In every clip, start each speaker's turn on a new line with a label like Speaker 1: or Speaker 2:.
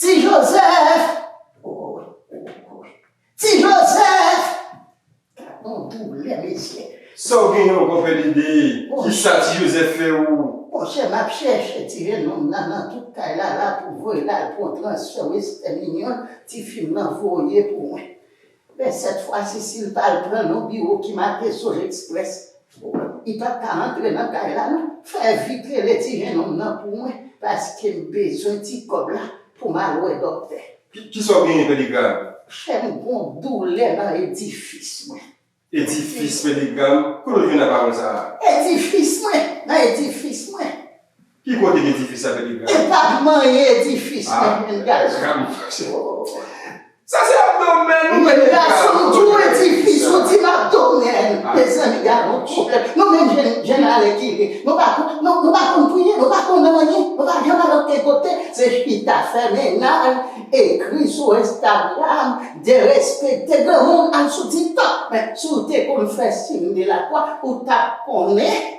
Speaker 1: Ti Joseph! Ti Joseph! Bon doulè mesye. Sa w genyen ankò
Speaker 2: Fèlide? Kisa Ti Joseph fè ou? Monchè m ap chèche
Speaker 1: ti jenòm nan nan tout kay la la pou voye l al pran transfè Westèn Inyon ti fi m nan voye pou mwen. Men sèt fwa si sil tal pran yon biwo ki make zone express li pap ka antre nan kay la non fè vit rele ti jenòm nan pou mwen paskem bezwen ti kòb la poum al wè dòktè. Kisa w genyen
Speaker 2: Peligram? Chè m gon
Speaker 1: doulè nan edifis mwen. Edifis
Speaker 2: Peligram? Kote w jwenn la pawòl sa a? Edifis mwen!
Speaker 1: Nan edifis mwen! Ki
Speaker 2: kote ki edifis la te degrade? E pat manyen
Speaker 1: edifis la menm menm gason.
Speaker 2: Sa se abdomèn ou mete la. Gason ou di
Speaker 1: yon edifis ou di m abdomèn. Mezanmi gade yon pwoblèm. Nou menm jèn alè ki ye nou pa konn nou pa konn priye nou pa konn anyen nou pa janm al oken kote se chita fè mennaj ekri sou instagram derespekte granmoun al sou tiktok men si w te konn fè siy de la kwa ou tap konnen.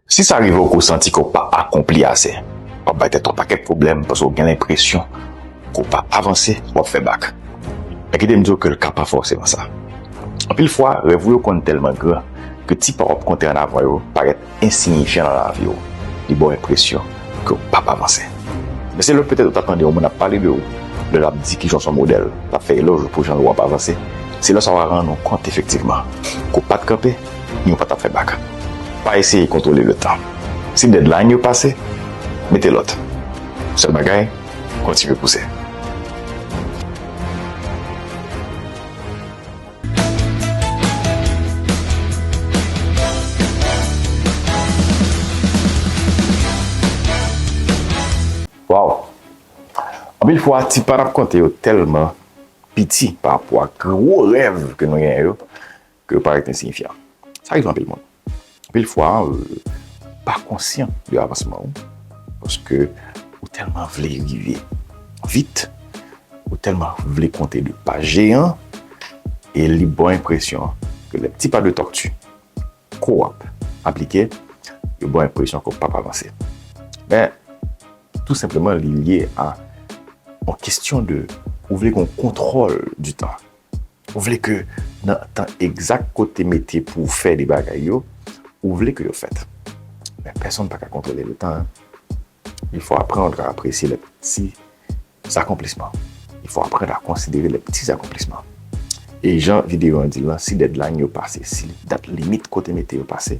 Speaker 3: Si sa rive w ke w santi ke w pa akonpli ase, w ap bay tèt ou yon pakèt pwoblèm paske w gen lenpresyon ke w pa avanse, w ap fè bak. Men kite m di w ke l ka pa fòseman sa. Anpil fwa, rèv ou yo konn tèlman gran ke ti pa w ap konte an avan yo parèt ensiyifyan nan lavi w. Li ba w enpresyon ke w pap avanse. Men se lè petèt ou ta tande yon moun ap pale de ou, lè l ap di kijan w se yon modèl, l ap fè elòj ou pou jan ou ap avanse, se lè sa w a rann ou kont efektivman ke w pa t kanpe, Nou pa tap fè bak. Pa eseye kontwole le tan. Si deadline yo pase, mete lòt. Sèl bagay, kontinye pouse. Waww! Anpil fwa ti pa nap konte yo tèlman piti pa rapò ak gwo rèv ke nou genyen yo. ke yo pa rete ensiyifyan. Sa rive anpil moun. Anpil fwa, pa konsyan de avansman ou, paske ou tèlman vle rive vit, ou tèlman vle konte de pa jeyan, e li ba w enpresyon ke le pti pa de tòkti ke w ap aplike, yo ba w enpresyon ke w pap avanse. Men, tou senpleman li lye a yon kestyon de ou vle gen yon kontwòl di tan. Ou vle ke nan tan egzak ke w te mete pou w fè de bagay yo, ou vle ke yo fèt. Men pèsonn pa ka kontwole le tan. Il fò aprann a apresye lè pti zakonplisman. Il fò aprann a konsidere lè pti zakonplisman. E jan videyo an di l lan, si dèdlayn yo pase, si dat limit ke w te mete yo pase,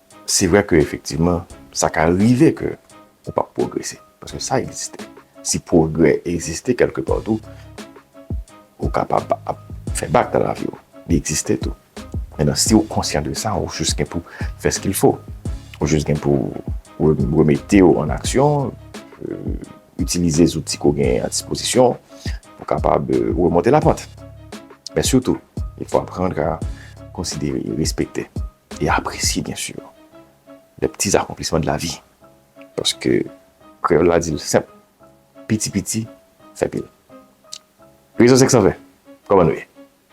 Speaker 3: Se vre ke efektivman, sa ka rive ke ou pap pwogrese, paske sa egziste. Si pwogrè egziste kelke pa tou, ou kapab ap fè bak nan lavi ou. Li egziste tou. Menan si ou konsyan de sa, ou jis gen pou fè skil fo. Ou jis gen pou remete ou an aksyon, itilize zouti ke ou genyen a dispozisyon pou kapab remonte la pant. Men sitou, il fo aprann ka konsidere, respekte. e apresye byen sur les petits accomplissements de la vie paske kreyòl la di l senp piti piti fè pil Rezon 520 kòman nou ye?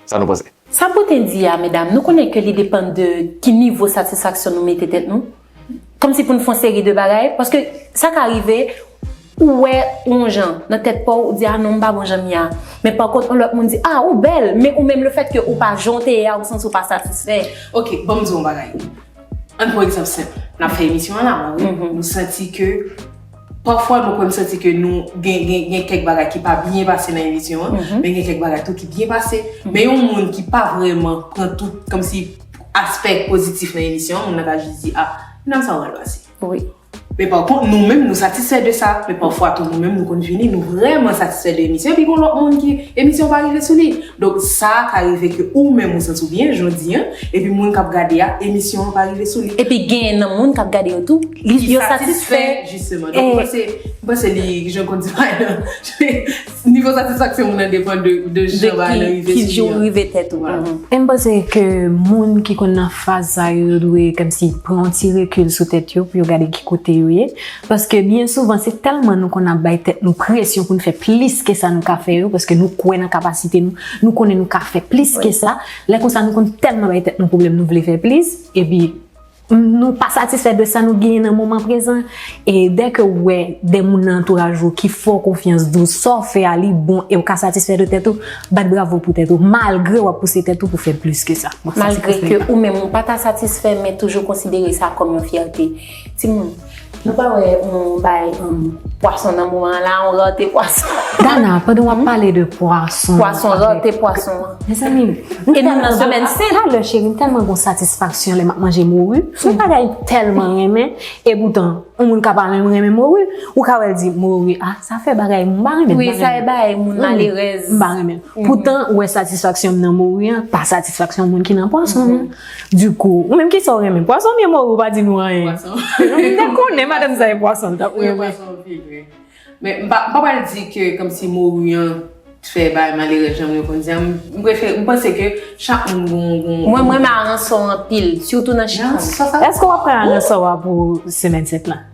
Speaker 3: Sa nou panse? Sa pote di a
Speaker 4: medam nou konnen ke li depann de ki nivo satisfaksyon nou mete tèt nou kòmsi pou n fon seri de bagay paske sa ka rive Ou wè ou yon jan, nan tèt pa w, ou di a non m pa bon jan m ye a. Men pa kont yon lòt moun di a ou bèl, men ou menm le fèt ke ou pa jan w te ye a ou santi w pa satisfè. Ok, ban m di w yon
Speaker 5: bagay. Ann pran egzanp senp. N ap fè emisyon an la a wi. M santi ke, pafwa mwen kwè m santi ke nou gen, gen, gen kèk bagay ki pa byen pase nan emisyon an, men gen kèk bagay tou ki byen pase. Men yon moun ki pa vrèman pran tout, kòmsi aspè pozitif nan emisyon an, moun nan ka jis di a, nan sa w al pase. Wi. Men
Speaker 4: pa kont
Speaker 5: nou menm nou satisfè de sa, men pafwa tou nou menm nou konn vini nou vrèman satisfè de emisyon epi gon lòt moun ki emisyon pa rive sou li. Donk sa ka rive ke ou menm ou santi w byen jodi an epi moun kap gade a emisyon an pa rive sou li. Epi gen nan moun kap
Speaker 4: gade yo tou ki satisfè jisteman. Donk m panse,
Speaker 5: m panse li jan konn di bagay lan. Nivo satisfaksyon moun
Speaker 4: nan depan de jan bagay nan rive sou li an. De
Speaker 6: ki jan ou rive tèt ou an. E m panse ke moun ki konn nan faz sa yo, yo dwe kòmsi pran yon ti rekil sou tèt yo pou yo gade ki kote yo ye. Paske byen souvan se tèlman nou konn ap bay tèt nou presyon pou n fè plis ke sa nou ka fè yo, paske nou kwè nan kapasite nou, nou konnen nou ka fè plis ke sa, lè konsa nou konn tèlman bay tèt nou pwoblèm nou vle fè plis, epi. Nou pa satisfè de sa nou genyen nan moman prezan, e dè ke ou wè de moun nan antouraj ou ki fè w konfyans di w sa w fè a li bon e ou ka satisfè de tèt ou, bat bravo pou tèt ou, malgre w ap pouse tèt ou pou fè plis ke sa. Malgre ke ou menm ou
Speaker 4: pa ta satisfè men toujou konsidere sa kòm yon fyète. Timoun. Nou pa wè on bay um, pwason nan moman an la, on rate pwason. Dana, pandan wap
Speaker 6: pale de pwason. Pwason, rate pwason
Speaker 4: an. Mezanmi,
Speaker 6: e nou
Speaker 4: nan semèn sen. Talè cheri, m tèlman gon
Speaker 6: satisfaksyon lè map manje moru. Son bagay m tèlman renmen. E poutan, on moun ka pa menm renmen moru. Ou ka wèl di moru, ah sa fè bagay moun pa renmen. Wi, sa fè bagay moun
Speaker 4: malerèz. M pa renmen. Poutan,
Speaker 6: wè satisfaksyon m nan moru an, pa satisfaksyon moun ki nan pwason an. Du kou, ou menm kisa ou renmen? Pwason byen mori ou pa di nou anyen. Pwason. Mwen te konnen madanm sa e pwason tap renmen. Mwen pwason pi vre.
Speaker 5: Men m pa pral di ke kom si mori an t fè bagay malere janm yo konn di a. M prefere, m panse ke chak moun gon gon. Mwen m renmen
Speaker 4: aransò anpil, sitou nan chifon. Eske w ap pran
Speaker 6: aransò a pou semèn 7 la?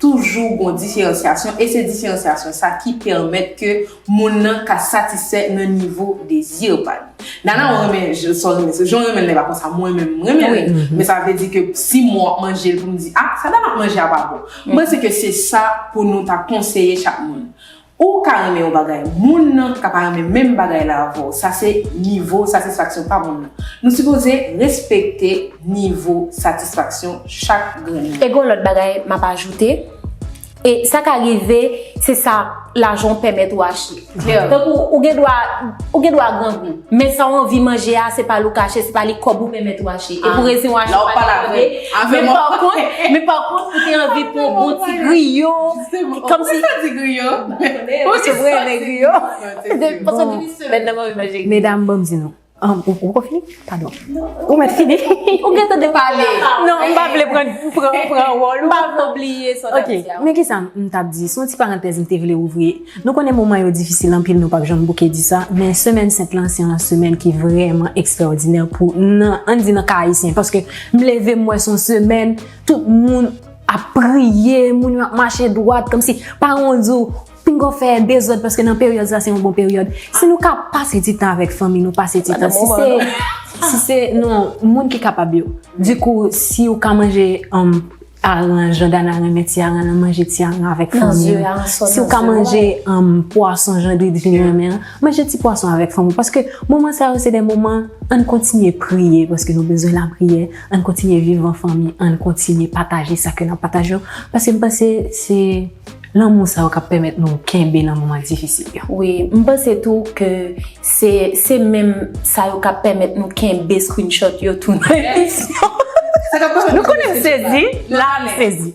Speaker 5: Toujou gon diferansyasyon e se diferansyasyon sa ki pèmèt ke moun nan ka satisfè nan nivo dezi pa li. Nana ou renmen sa w renmen, jan w renmen l la e pa konsa mwen menm m renmen l, men sa vle di ke si mwen ap manje l pou m di a sa dam ap manje a pa bon. M panse ke se sa pou nou ta konseye chak moun. Ou ka renmen yon bagay, moun nan ka pa renmen menm bagay la avè w, sa se nivo satisfaksyon pa moun nan. Nou sipoze respekte nivo satisfaksyon chak grenn moun. E gen yon lòt bagay
Speaker 4: m ap ajoute, e sa ka rive se sa lajan w pèmèt ou achte. Tankou ou gen dwa ou gen dwa grangou, men sa w anvi manje a se pa li w ka achte, se pa li kòb ou pèmèt ou achte. E pou rezon w achte w pa ta mande, men pa kont, men pa kont ou te anvi pran yon bon ti griyo,
Speaker 5: Kòm
Speaker 4: si sa di griyo. Ou se vre men griyo. Medam
Speaker 6: banm di nou. Ou pa fini? Padon. Ou mèt fini? Ou gen tan de pale.
Speaker 4: Non, m pa vle pran
Speaker 6: wòl ou. M pa vle oubliye sa w tap
Speaker 4: di a. Ok, men kisa m
Speaker 6: tap di. Son ti parantèz m te vle ouvri. Nou konnen moman yo difisil anpil nou pap janm bouke di sa. Men semèn sent lan se yon semèn ki vrèman ekstraòdinè pou nan, an n di nan ka ayisyen. Paske m leve m wè son semèn tout moun. Ap priye, moun yo ap mache dwat, kòm si paran w di w, pinga w fè dezòd paske nan peryòd sa se yon bon peryòd. Si nou ka pase ti tan avèk fanmi nou, pase ti tan. Si se, si se, non, moun ki kapab yo. Di kou, si ou ka manje aran, jan Dana renmen ti aran lan, manje ti aran lan avèk fanmi ou. Si ou ka manje pwason jan Didine renmen an, manje ti pwason avèk fanmi ou. Paske moman sa yo se de moman, ann kontinye priye paske nou bezwen lapriyè. Ann kontinye viv an fanmi, ann kontinye pataje sa kè n ap pataje yo, paske m panse se lanmou sa yo k ap pèmèt nou kenbe nan moman difisil yo. Wi, m panse
Speaker 4: tou ke se se menm sa yo k ap pèmèt nou kenbe screenshot yo tou nan emisyon.
Speaker 6: Nou konnen m sezi, la m sezi.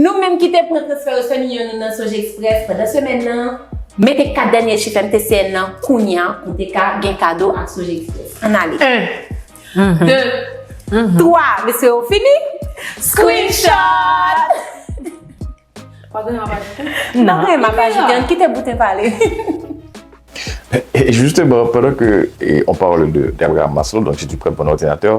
Speaker 5: Nou
Speaker 4: menm ki te pran transfè Western Union nou nan Sonje Express pandan semèn nan, mete 4 dènye chif MTCN nan kounya pou te ka gen kado ak Sonje Express. Ann ale! 1 2 3 Mesye yo fini? Screenshot!
Speaker 5: Pa gen anyen wap ajoute? Nan
Speaker 4: anyen map ajoute, ann kite Boutin pale.
Speaker 3: Justement, pendant que on parle de Gabriel Maslow, donc si tu prends ton ordinateur,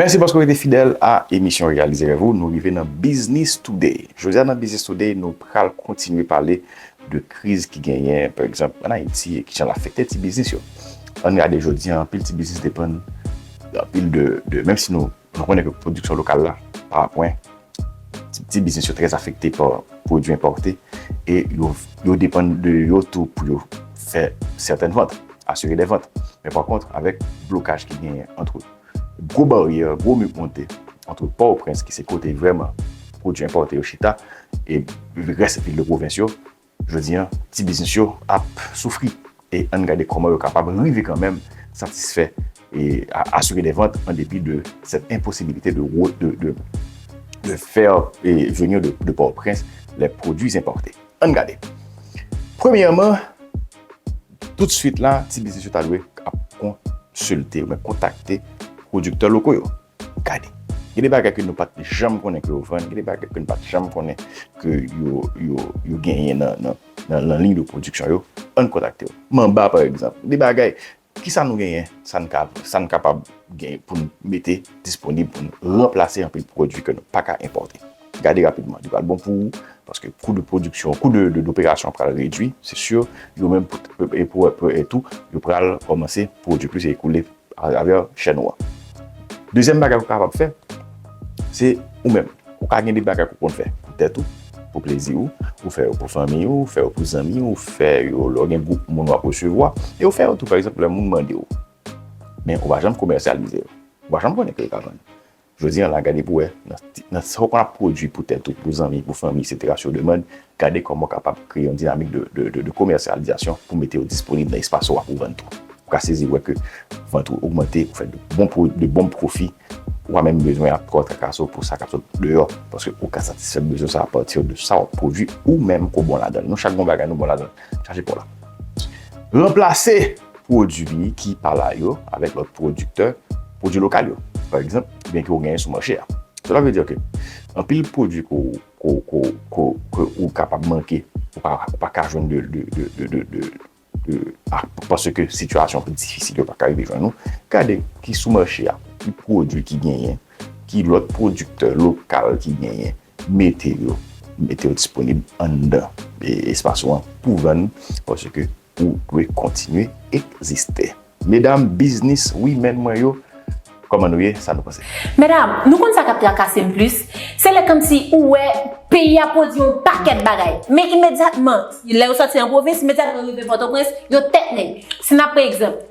Speaker 3: Mèsi paske w rete fidèl a emisyon Reyalize Rèv ou. Nou rive nan Biznis Touday. Jodi a nan Biznis Touday, nou pral kontinye pale de kriz ki genyen, pa egzanp, ann Ayiti e ki jan l afekte ti biznis yo. Ann gade jodi a, anpil ti biznis depann anpil de, menm si nou. Nou konnen ke pwodiksyon lokal la pa a pwen, ti piti biznis yo trè afekte pa pwodwi enpòte e yo depann de yo tou pou yo fè sètèn vant, asire dè vant. Men pa kont, avèk blokaj ki genyen antre gwo baryè, gwo mi k monte antre Pòtoprens ki se kote vrèman pwodwi enpòte yo chita e rès vil de pwovens yo, Jodi an, ti biznis yo ap soufri e ann gade kòman yo kapab rive kanmenm satisfè e asire des ventes an depi de cette impossibilité de de faire venir de Port-au-Prince les produits importés. Ann gade. Premyèman, tout swit la, ti biznis yo ta dwe ap konsilte ou byen kontakte pwodiktè loko yo. Gade, gen de bagay ke nou pat janm konnen ke yo vann, gen de bagay ke nou pat janm konnen ke yo genyen nan lanliy de pwodiksyon yo, ann kontakte yo. Manba, pa egzanp, gen de bagay, ki sa nou genyen, sa n kapab genyen pou n mete disponib pou n ranplase anpil pwodui ke nou pa ka enpòte. Gade rapidman, li pral bon pou ou, paske kou de pwodiksyon, kou de operasyon pral redui, se sur, yo menm pou etou, yo pral kòmanse pwodui plis e ekoule atravè chè nou an. Dezyèm bagay ou kapab fè, se ou menm. Ou ka gen de bagay ke ou konn fè pou tèt ou, pou plezi ou, ou fè yo pou fanmi ou, ou fè yo pou zanmi ou, ou fè yo lè ou gen gwoup moun wap resevwa, e ou fè yo tou pa egzanp lè moun mande ou. Men ou pa janm komèsyalize yo. Ou pa janm konnen ke yo ka vann. Jodi an la, gade pou wè, nan sa ou pa pwodui pou tèt ou, pou zanmi, pou fanmi, eksetera, si yo demand, gade kòman ou kapab kreye yon dinamik de komèsyalizasyon pou mete yo disponib nan espas ou a pou vann tou. Ou ka sezi wè ke vant ou ogmante, ou fè de bon pwofi, ou pa menm bezwen ap twò trakase w pou sa k ap sot deyò, paske ou ka satisfè bezwen sa apati de sa w ap pwodui ou menm ke w bon ladan l. Nou chak gen yon bagay nou bon ladan l. Chaje pa w la. Ranplase! pwodui ki pa la yo avèk lòt pwodiktè pwodui lokal yo, pa egzanp, byen ke ou genyen sou mache a. Sela vle di ke anpil pwodui ke ou kapab manke, ou pa ka jwenn paske sitiyasyon ki difisil yo pa ka rive jwenn ou, gade ki sou mache a, ki pwodui ki genyen, ki lòt pwodiktè lokal ki genyen, mete yo, mete yo disponib anndan espas ou an pou vann paske Ou dwe kontinye egziste. Medam biznis women mwen yo Koman nou ye sa nou panse. Medam nou konn sa
Speaker 4: kap trakasem plis se lè kòmsi ou wè peyi a pwodwi yon pakèt bagay men imedyatman lè yo sòti nan pwovens imedyatman yo rive pòtoprens yo tèt nèg si nap pran egzanp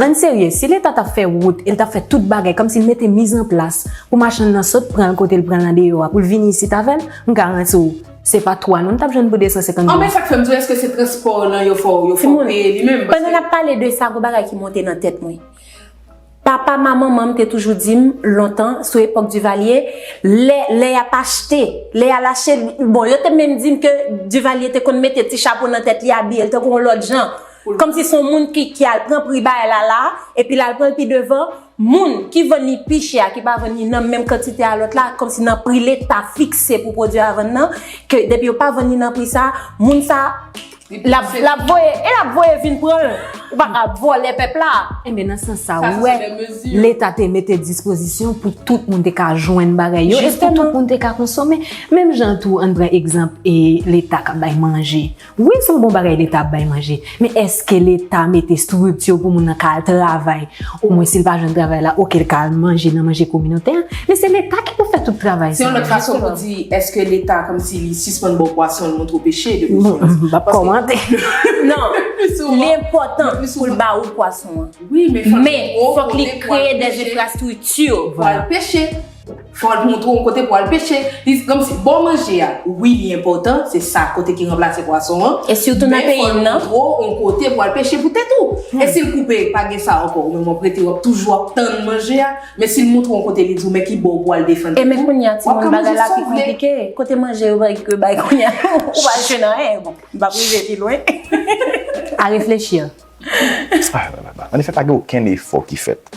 Speaker 6: Ann serye, si
Speaker 4: leta tap
Speaker 6: fè wout e l tap fè tout bagay kòmsi l mete miz an plas pou machann nan sot pran l kote l pran l andeyò a pou l vini isit avè l, m garanti w se pa 3 non n tap jwenn pou 250 goud. Anfen sak fè m di w èske
Speaker 5: se transpò w lan yo fè w peye li menm? Pandan n ap pale de sa gon
Speaker 4: bagay ki monte nan tèt mwen. Papa ma manman m te toujou di m lontan sou epòk Duvalier lè lè yap achte lè yal achte bon yo te menm di m ke Duvalier te konn mete ti chapo nan tèt li abiye l tankou yon lòt jan Komsi son moun ki ki al pran pri bay la la epi lal pranl pi devan moun ki vann li pi chè a ki pa vann li nan menm kantite a lòt la komsi nan pri leta fikse pou pwodwi a vann nan ke depi yo pa vann li nan pri sa moun sa lap lap voye e lap voye vin pranl ou pa ka vòlè pèp la enben nan sans sa
Speaker 6: ou wè
Speaker 5: leta
Speaker 6: te
Speaker 5: mete
Speaker 6: dispozisyon pou tout moun te ka jwenn bagay yo e pou tout moun te ka konsome menm jan tou ann pran egzanp e leta kap bay manje Wi son bon bagay leta ap bay manje men eske leta mete structure pou moun nan ka al travay o mwen sil pa jwenn travay la ok li ka al manje nan manje kominotè an men se leta ki pou fè tout travay sa. Se yon lòt fason pou di
Speaker 5: eske leta komsi li sispann baw pwason li montre w peche depi sou an. M pap komante.
Speaker 6: Non
Speaker 4: li
Speaker 5: enpotan pou l
Speaker 4: ba ou
Speaker 5: pwason
Speaker 4: an men
Speaker 5: fok li
Speaker 4: kreye des infrastructure pou al peche.
Speaker 5: Fòl montre w kote pou al peche. Li se komsi bò manje a wi li enpòtan se sa kote ki ranplase pwason an. E sitou nan peyi m
Speaker 4: nan. Men fòl montre w on kote pou
Speaker 5: al peche pou tèt ou. E si l koupe pa gen sa ankò ou menm wap rete wap toujou ap tann manje a. Men si l montre w on kote li di w men ki bò ou pou al defann tèt ou. E men kounye a timoun
Speaker 4: bagay la pi konplike. Kote
Speaker 5: manje yo
Speaker 4: bay yo bay kounye a ou pa al jwenn anyen. Bon m pap rive pi lwen. A
Speaker 6: reflechir. Anefè
Speaker 3: pa gen okenn efò ki fèt.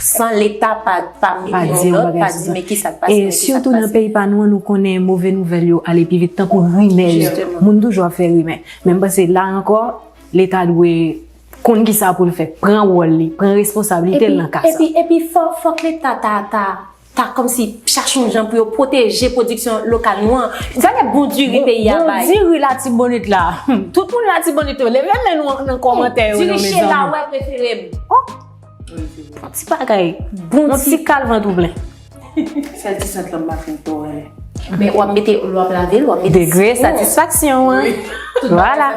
Speaker 4: San leta pa di yon lòt, pa di men ki sa k pase. E sitou nan peyi pa
Speaker 6: nou an, nou konnen move nouvèl yo ale pi vit tankou rimè yo. Moun toujou ap fè rimè. Men m panse la ankò, leta dwe konn ki sa pou l fè, pran wòl li, pran responsablite l nan ka sa. Epi fòk
Speaker 4: leta ta. ta kòmsi chache yon jan pou yo pwoteje pwodiksyon lokal nou an. Gade bon diri peyi a bay. Bon diri Latibonit
Speaker 6: la. Tout moun Latibonit yo, leve men nou nan kòmantè yo non mezanmi. Diri Chela wè
Speaker 4: prefere m. Oh! Ti bagay.
Speaker 6: Bon ti kalvandouble. Sèl
Speaker 5: ti sant lan m pa fin tò renmen. Men wap
Speaker 4: mete, lè wap lavel, wap mete. Degre satisfaksyon
Speaker 6: an. Wi. Vwala.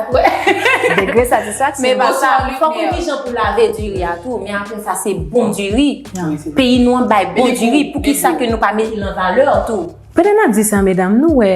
Speaker 6: Degre satisfaksyon. Men pa sa, fò
Speaker 4: konn ki jan pou lave diri a tou. Men apre sa se bon diri. Wi se vre. Peyi nou an bay bon diri. Pou ki sa ke nou pa mete l an valè tou. Pandan nap di sa medam,
Speaker 6: nou wè.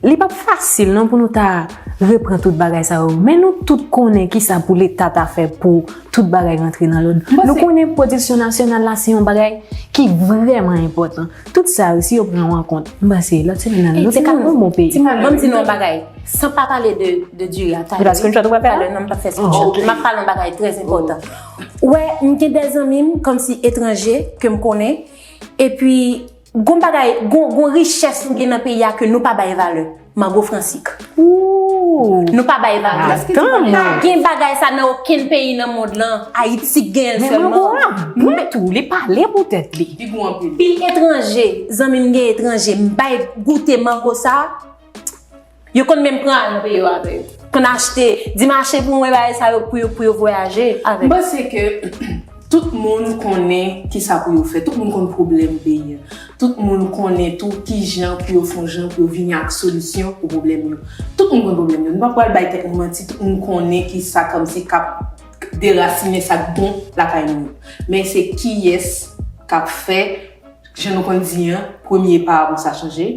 Speaker 6: Li pap fasil non pou nou ta repran tout bagay sa yo, men nou tout konnen kisa pou leta ta fè pou tout bagay rantre nan lòd. Nou konnen pwodiksyon nasyonal la se yon bagay ki vrèman enpòtan. Tout sa yo si yo pran yo an kont, m panse lòt semen nan nou te ka yon bon peyi. Bon m di nou yon bagay,
Speaker 4: san pa pale de diri a, talè wi, talè non m
Speaker 6: pap fè screenshot,
Speaker 4: m ap pale yon bagay trè enpòtan. Ou wè m gen de zanmi m kòmsi etranje ke m konnen epi. Gon bagay, gon richès nou gen nan peyi a ke nou pa bay valè. Mango fransik. Ooh!
Speaker 6: Nou pa bay valè.
Speaker 4: Kiyès ki di mango? Pa gen bagay sa nan okenn peyi nan mond lan. Ayiti k genyen l sèlman. Men mango a bon tou, li
Speaker 6: pale pou tèt li. Li gou anpil. Pil etranje,
Speaker 4: zanmi m gen etranje, m bay goute mango sa. Yo konn menm pran antre yo avè yo. Konn achte, di mache pou mwen bagay sa yo pou yo pou yo vwayaje avè yo. M panse ke
Speaker 5: tout moun konnen ki sa pou yo fè. Tout moun konn pwoblèm peyi an. Tout moun konnen tou ki jan pou yo fon jan pou yo vini ak solisyon pou pwoblèm yo. Tout moun konn pwoblèm yo. Nou pa pwal bay tèt nou manti. Tout moun konnen ki sa kòm si k ap derasinen sa k bon lakay moun yo. Men se kiyès k ap fè, jan nou konn di an, premye pa a pou sa chanje.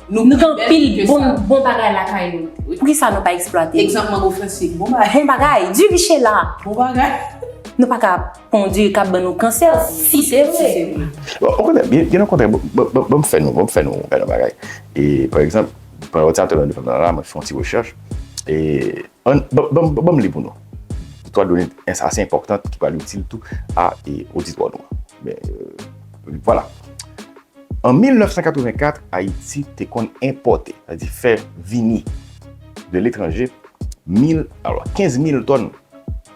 Speaker 5: Nou gen anpil
Speaker 4: bon bagay lakay nou. Poukisa nou pa eksplwate? Egzanp mango franse. Bon
Speaker 5: bagay. Bon bagay. Du michela.
Speaker 4: Bon bagay.
Speaker 5: Nou pa ka
Speaker 4: kondi e kap ban nou kansè. Si se vre. Ou konnen,
Speaker 3: gen yon kontre, banm fè nou, banm fè nou yon bagay. E, pa egzanp, pandan ou te ap tande nou fèm nan la, mwen te fè yon ti rechèch. E, An, ban, ban m li pou nou. Istwa done ins ase enpòtant ki pral itil tou a oditwa nou an. Men, euh, vwala. An 1984, Ayiti te konn enpòte, sa di fè vini de letranje, mil, alò, kenz mil tòn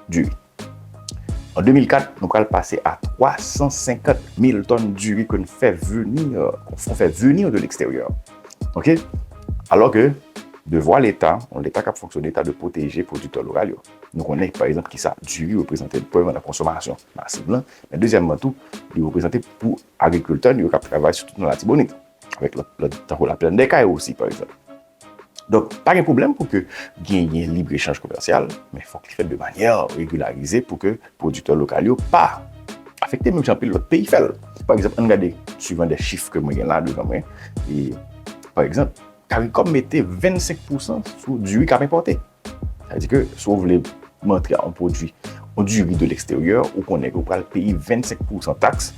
Speaker 3: diri. An 2004, nou pral pase a 350 mil tòn diri ke n fè veni, ke n fè veni de leksteryè. Ok? Alò ke, devwa Leta, yon Leta k ap fonksyone, ta dwe pwoteje pwodiktè lokal yo. Nou konnen, pa egzanp, kisa diri reprezante premyèman nan konsomasyon masiv lan, men dezyèmman tou, li reprezante pou agrikiltè nou yo k ap travay sitou nan Latibonit, avèk lòt, tankou Laplèndèkay osi, pa egzanp. Donk, pa gen pwoblèm pou ke genyen libre echanj komèsyal, men fòk li fèt de manyè regularize pou ke pwodiktè lokal yo pa afekte menm jan anpil lòt peyi fèl. Pa egzanp, ann gade swivan de chif ke mwen gen la devan mwen, e pa egzanp, Karikòm mete 25 pousan sou diri kap enpòte. Sa di ke si w vle montre yon pwodwi, yon diri de leksteryè, ou konnen ke ou pral peye 25 pousan taks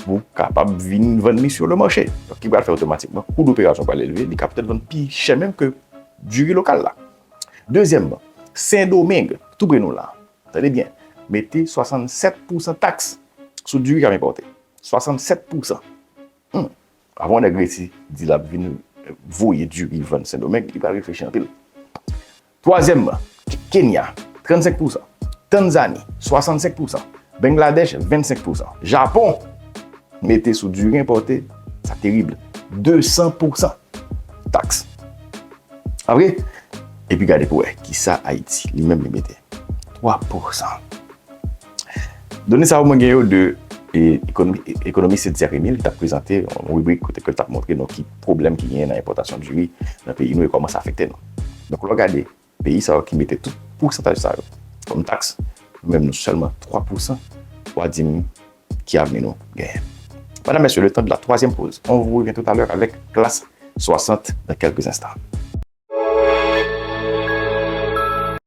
Speaker 3: pou w kapab vin vann li sou le mache. Donk ki pral fè otomatikman kou doperasyon pral elve, li ka pètèt vann pi chè menm ke diri lokal la. Dezyèmman, Sendomeng, tou pre nou la, tande byen, mete 67 pousan taks sou diri k ap enpòte. 67 pousan! Humm avan yon nèg resi di lap vin voye diri vann sendomeng li pa reflechi anpil. Twazyèmman, Kenya, 35 pousan, Tanzani, 65 pousan, Bengladèch, 25 pousan, Japon mete sou diri enpòte, sa terib, 200 pousan taks. Pa vre? Epi gade pou wè kisa Ayiti li menm li mete, 3 pousan. Done sa yo mwen gen yo de ekonomis Edzer Emile ki t ap prezante yon ribrik kote ke l t ap montre nou ki pwoblèm ki genyen nan enpòtasyon diri nan peyi nou e kòman sa afekte nou. Donk lè w gade peyi sa yo ki mete tout pousantaj sa yo kòm taks, nou menm nou sèlman 3 pousan, wa di m ki avni nou genyen? Medam, Mesye, letan de la twazyèm poz. On vous revient tout à l'heure avec Klass 60 dans quelques instants.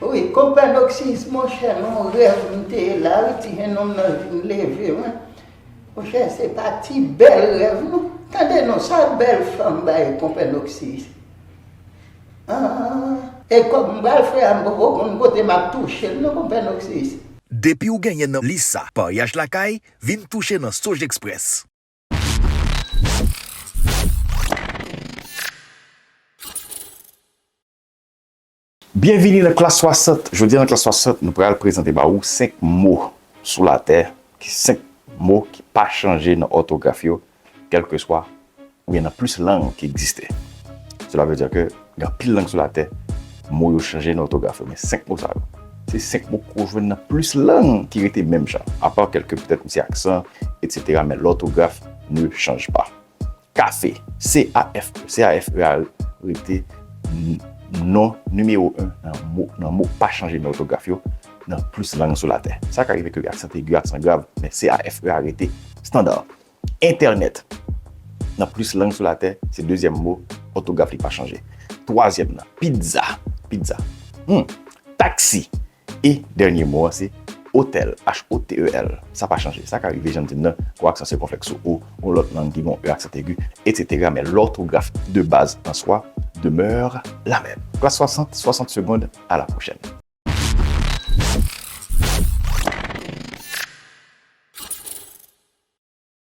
Speaker 1: Wi konpa Doxy's monchè non rèv m te ye la wi ti jennonm nan vin leve mwen monchè se pa ti bèl rèv non tande non sa bèl fanm bay konpè Doxy's an. E kòb m pral fè a m poko konn kote map touche l non konpè Doxy's. Depiw
Speaker 7: genyen nan lis sa paryaj lakay vin touche nan Sojexpress.
Speaker 3: Byenvini nan klas 60! Jodi a nan klas 60 nou pral prezante ba ou 5 mo sou latè, 5 mo ki pa chanje nan òtograf yo kèlkeswa oubyen nan plis lang ki egziste. Sela vle di ke gen anpil lang sou latè mo yo chanje nan òtograf yo men 5 mo sa yo se 5 mo ke ou jwenn nan plis lang ki rete menm jan apa kèlke petèt misye aksan etc men lòtograf ne chanj pa. Kafe, CAFE, C-A-F-E a rete non nimewo 1 nan mo, nan mo pa chanje nan òtograf yo, nan plis lang sou latè. Sa ka rive ke gen aksan egi, aksan grav, men CAFE a rete standa. Entènèt, nan plis lang sou latè, se dezyèm mo, òtograf li pa chanje. Twazyèm nan, pizza, pizza. Humm! Taksi, E dènye mo an se otèl, h-o-t-e-l. Sa pa chanje. Sa ka rive, jan m di m nan, gon aksan sikonflèks sou o, gon lòt lang ki gon e aksan aigu, etsetera, men lòtograf de baz an swa demeure la menm. Klas 60, 60 segond, a la pwochèn.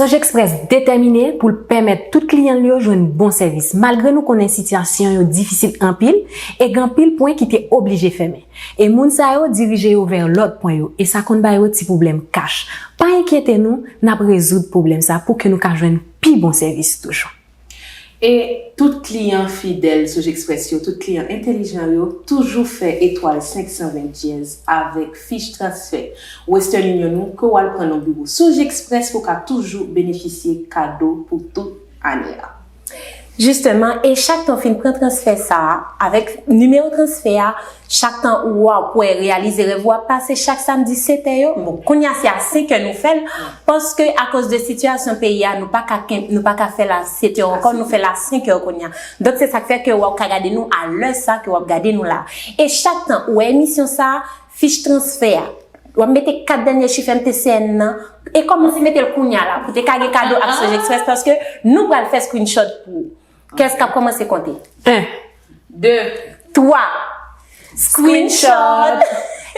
Speaker 6: Soj Express detèmine pou l pèmèt tout kliyan l yo jwenn bon sèvis malgre nou konnen sitiyasyon yo difisil anpil e gen anpil pwen ki te oblije fèmen. E moun sa yo dirije yo vè lòt pwen yo e sa konn ba yo ti pwoblèm kach. Pa enkyete nou, n ap rezoud pwoblèm sa pou ke nou ka jwenn pi bon sèvis toujou. E
Speaker 5: tout kliyan fidèl Sogexpress yo, tout kliyan entelijan yo toujou fè etwal 520 dyèz avèk fich transfè Western Union ou ke w al pran nan biwo Sogexpress pou w ka toujou benefisye kado pou tout ane a.
Speaker 4: Jisteman, e chak tan w fin pran transfè sa a, avèk nimewo transfè a, Chak tan ou wa ou pwè reyalize rèv ou ap pase chak samdi 7 è yo, bon kounya se a 5 è nou fèl paske akoz de sitiyasyon peyi a nou paka kenb nou paka fèl a 7 è ankò nou fèl a 5 è kounya donk se sak fè ke wa ou ka gade nou a lè sa ke wap gade nou la e chak tan ou wè emisyon sa fich transfè a wap mete 4 dènyè chif MTCN nan e kòmanse metel kounya la pou te ka gen kado ak Sojexpress paske nou pral fè screenshot pou ou. Kès kap kòmanse konte?
Speaker 5: 1 2 3
Speaker 4: Screenshot!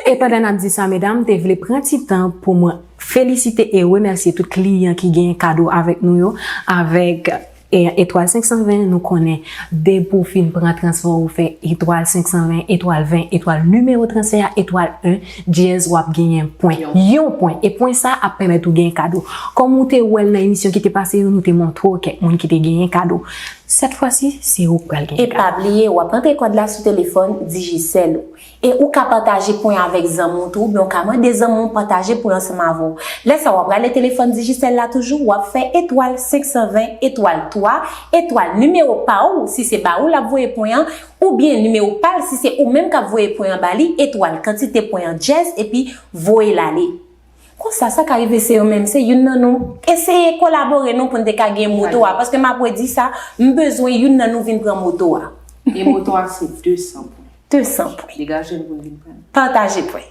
Speaker 6: E pandan nap di sa medam, m te vle pran ti tan pou mwen felisite e remèsye tout kliyan ki genyen kado avèk nou yo, avèk Etwal 520 nou konnen depi w fin pran transfè w ou fè Etwal 520, Etwal 20, Etwal nimewo transfè a, Etwal 1. Dyèz wap genyen pwen. Yon pwen. E pwen sa ap pèmèt ou genyen kado. Kòm ou te wèl nan emisyon ki te pase yo nou te montre w kèk moun ki te genyen kado. Sèt fwa si se ou k pral genyen kado. E pa bliye
Speaker 4: wap
Speaker 6: antre
Speaker 4: kòd la sou telefòn Digicel ou. E ou ka pataje pwen avèk zanmi w tou oubyen ou ka mande zanmi w pataje pwen ansanm avè w. Lè sa wap rale telefòn Digicel la toujou wap fè etwal 520 etwal 3 etwal nimewo pa ou si se ba ou lap voye pwen an. Oubyen nimewo pal si se oumenm kap voye pwen an bali etwal kantite pwen an dyèz epi voyel ale. Konsa sa ka rive se yo menm se youn nan nou eseye kolabore non poun te ka gen moto a paske map redi sa m bezwen youn nan nou vin pran moto a. E moto a
Speaker 5: se 200 pwen. 200 pwen.
Speaker 4: Degajel poun vin prann.
Speaker 5: Pataje pwen.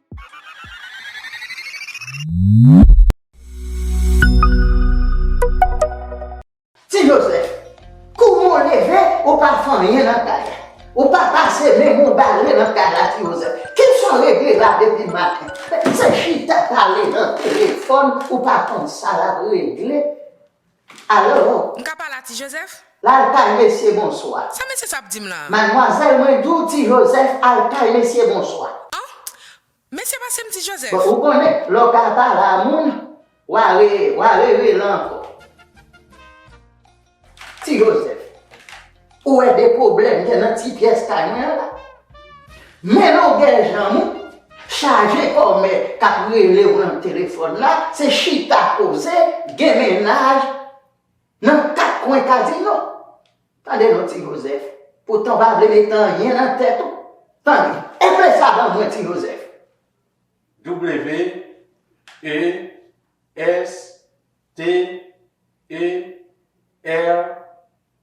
Speaker 1: Ti Jozèf, kouman w leve, ou pa fè anyen nan kay la? Ou pa pase men w, ou bare nan kay la ti Jozèf? Ki sa w regle la depi maten? Se chita pale nan telefòn, ou pa konn sa l ap regle? Alo! M ka pale a Ti
Speaker 8: Jozèf? Laltay mesye
Speaker 1: bonswa. Sa mesye sa ap di m la?
Speaker 8: Madmwazèl mwen di w
Speaker 1: Ti Jozèf Altay mesye bonswa. An! Mesye
Speaker 8: pase m Ti Jozèf. Bon ou konnen lè w ka
Speaker 1: pale a moun wa re wa re rele ankò. Ti Jozèf. Ou wè de pwoblèm gen nan ti pyès kay mwen an la? Men longè janm ou, chaje kòmè k ap rele w nan telefòn la, se chita koze, gen mennaj nan kat kwen kazino. Tande non Ti Jozèf, poutan w pa vle mete anyen nan tèt ou, tande, epe sa ban mwen Ti Jozèf.
Speaker 2: WESTER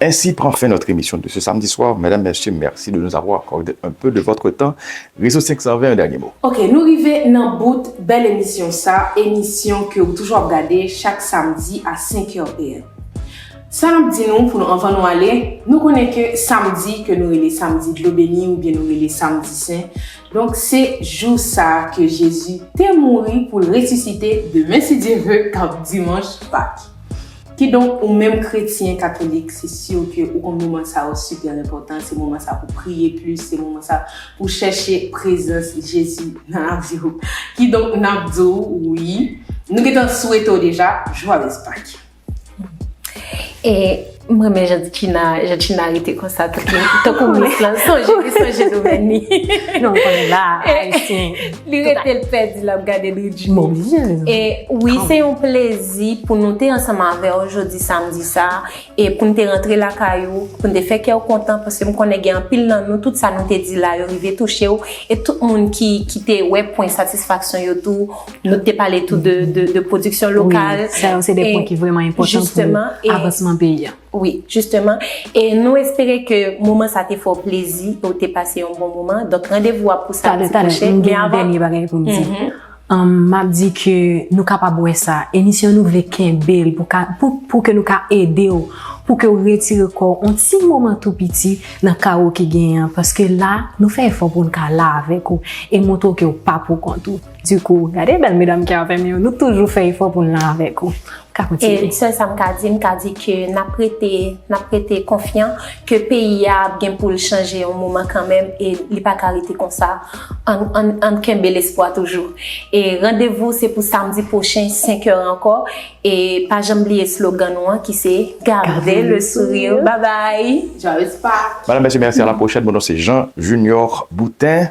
Speaker 3: Ainsi prend fin notre émission de ce samedi soir mesdames messieurs merci de nous avoir accordé un peu de votre temps Réseau 520 un dernier mot. Ok nou rive
Speaker 5: nan bout bèl emisyon sa emisyon ke ou toujou ap gade chak samdi a 5 heures PM sa nap di nou pou nou anvan nou ale nou konnen ke samdi ke nou rele samdi dlo beni oubyen nou rele samdi sen donk se jou sa ke Jezi te mouri poul resisite demen si Dye ve kap dimanch pak. Kidonk, ou menm kretyen katolik, se sur ke ou konn moman sa yo super enpòtan, se moman sa pou w priye plis, se moman sa pou w chèche prezans Jezi nan lavi w. Kidonk, n ap di w, wi, nou gen tan swete w deja, Joyeux Pâques!
Speaker 4: E, m renmen jan Djina, jan Djina rete konsa tankou mis lan, sonje li sonje domèn li. Non, m konn
Speaker 6: la, ayisyen. Li rete l
Speaker 4: pèdi lap gade Dridjine. Bon byen. E wi se yon plezi pou nou te ansanm avè w jodi samdi sa a e pou n te rantre lakay ou, pou n te fè kè w kontan paske m konnen gen anpil nan nou tout sa nou te di la yo rive touche w e tout moun ki ki te wè pwen satisfaksyon yo tou. Nou te pale tou de de pwodiksyon lokal. Wi, sa yo se de pwen ki
Speaker 6: vrèman enpòtan pou avansman
Speaker 4: peyi
Speaker 6: a. Wi, jisteman,
Speaker 4: e nou espere ke moman sa te fè w plezi e w te pase yon bon moman. Donk, randevou a pou samdi pwochen. Tade, tade, m gen yon dènye
Speaker 6: bagay pou m di. M ap di ke nou kapab wè sa, emisyon nou vle kenbe l pou ke nou ka ede w, pou ke w retire kò w yon ti moman tou piti nan kawo ki genyen an. Paske la, nou fè efò pou nou ka la avèk ou e montre w ke w pa poukont ou. Du coup, gade bèl medam ki avèm yo, nou toujou fè efò poun la avèk ou. Ou ka kontinye. E sèl
Speaker 4: sam ka di, m ka di ke nap rete, nap rete konfyan ke peyi a ap gen poul chanje yon moman kanmenm e li pa ka rete konsa. Ann, ann, ann kenbe lespwa toujou. E randevou se pou samdi pwochen 5 heures ankò e pa janm bliye slogan nou an ki se Gardez le sourire. Babay! Joyeux Pâques!
Speaker 5: Madame, Mèsi, mèsi, a la pwochèn,
Speaker 3: mon non se Jean Junior Boutin.